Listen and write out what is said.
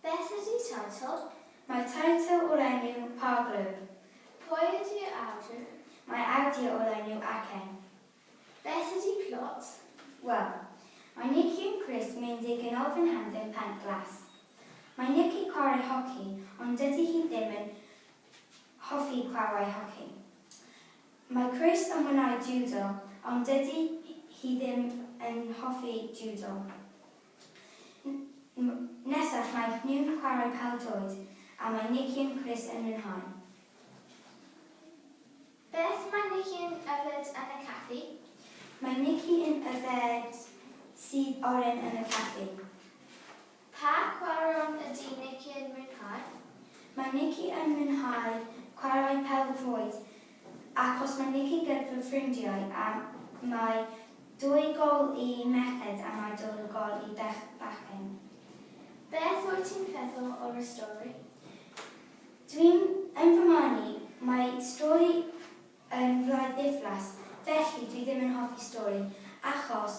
Beth ydi teitl? Mae teitl o'r enw Pa Glwb? Pwy ydi'r awdur? Mae awdur o'r enw Acen. Beth ydi plot? Wel, mae Nici yn Chris Meindig yn ofyn am ddim pant glas. Mae Nici chwarae hoci ond dydi hi ddim yn hoffi chwarae hoci. Mae Chris yn mwynhau jiwdo, ond dydy hi ddim yn hoffi jiwdo. N, Nesaf mae nhw'n chwarae pêl-droed, a mae Nikki and Chris yn mwynhau. Beth mae Nikki yn yfed yn y caffi? Mae Nikki yn yfed sudd oren yn y caffi. Pa chwaraeon ydy Nikki yn mwynhau? Mae Nikki yn mwynhau chwarae pêl-droed ac os mae Nikki gyda fy ffrindiau a mae dwy gol i merched a mae dwy gol i bechgyn. Beth wyt ti'n feddwl o'r y stori? Dwi'n yn fy marn i, mae stori yn wlad ddiflas felly dwi ddim yn hoffi stori achos